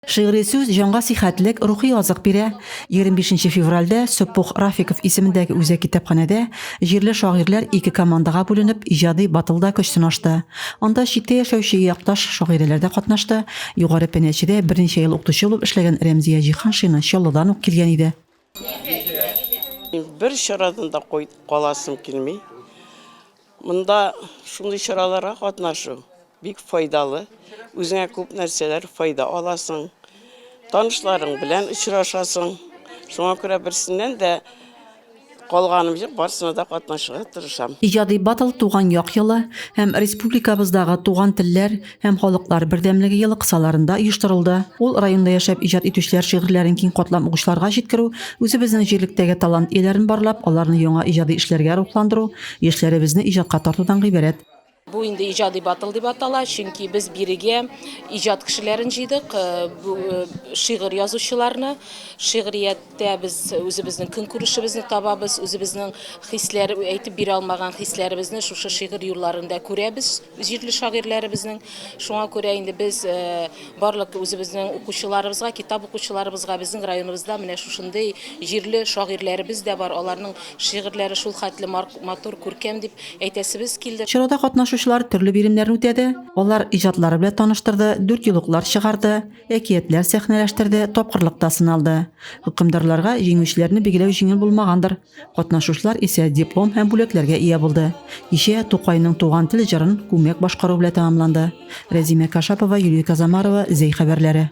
Шигъри сүз җанга сихәтлек, рухи азык бирә. 25 нче февральдә Сөппух Рафиков исемендәге үзәк китапханәдә җирле шагыйрьләр ике командага бүленеп, иҗади батлда көч сынашты. Анда читтә яшәүче якташ шагыйрәләр дә катнашты. Югары Пенәчедә берничә ел укытучы булып эшләгән Рәмзия Җиһаншина Чаллыдан ук килгән иде. Бер чарадан да каласым килми. Монда шундый чараларга катнашу бик файдалы. Үзеңә күп нәрсәләр файда аласың. Танышларың белән очрашасың. Шуңа күрә берсеннән дә калганым юк, барсына да катнашырга тырышам. Иҗади батл Туган як елы һәм республикабыздагы туган телләр, һәм халыклар бердәмлеге елы кысаларында оештырылды. Ул районда яшәп иҗат итүчеләр шигырьләрен киң катлам угычларга җиткерү, үзебезнең җирлектәге талант ияләрен барлап, аларны яңа иҗади эшләргә рухландыру, яшьләребезне иҗатка тартудан гыйбарәт. Бу инде иҗади батл дип атала, чөнки без бирегә иҗат кешеләрен җыйдык, э, э, шигырь язучыларны. Шигърияттә без үзебезнең көнкүрешебезне табабыз, үзебезнең хисләр әйтеп бирә алмаган хисләребезне шушы шигырь юлларында күрәбез. Җирле шагыйрьләребезнең, шуңа күрә инде без барлык үзебезнең укучыларыбызга, китап укучыларыбызга, безнең районыбызда менә шушындый җирле шагыйрьләребез дә бар, аларның шигырьләре шул хәтле матур, күркәм дип әйтәсебез килде. Чарада катнашучылар төрле биремнәрне үтәде, алар иҗатлары белән таныштырды, дүртьюллыклар чыгарды, әкиятләр сәхнәләштерде, тапкырлыкта сыналды. Хөкемдарларга җиңүчеләрне билгеләү җиңел булмагандыр. Катнашучылар исә диплом һәм бүләкләргә ия булды. Кичә Тукайның туган тел җырын күмәк башкару белән тәмамланды. Рәзимә Кашапова, Юлия Казамарова, Зәй хәбәрләре.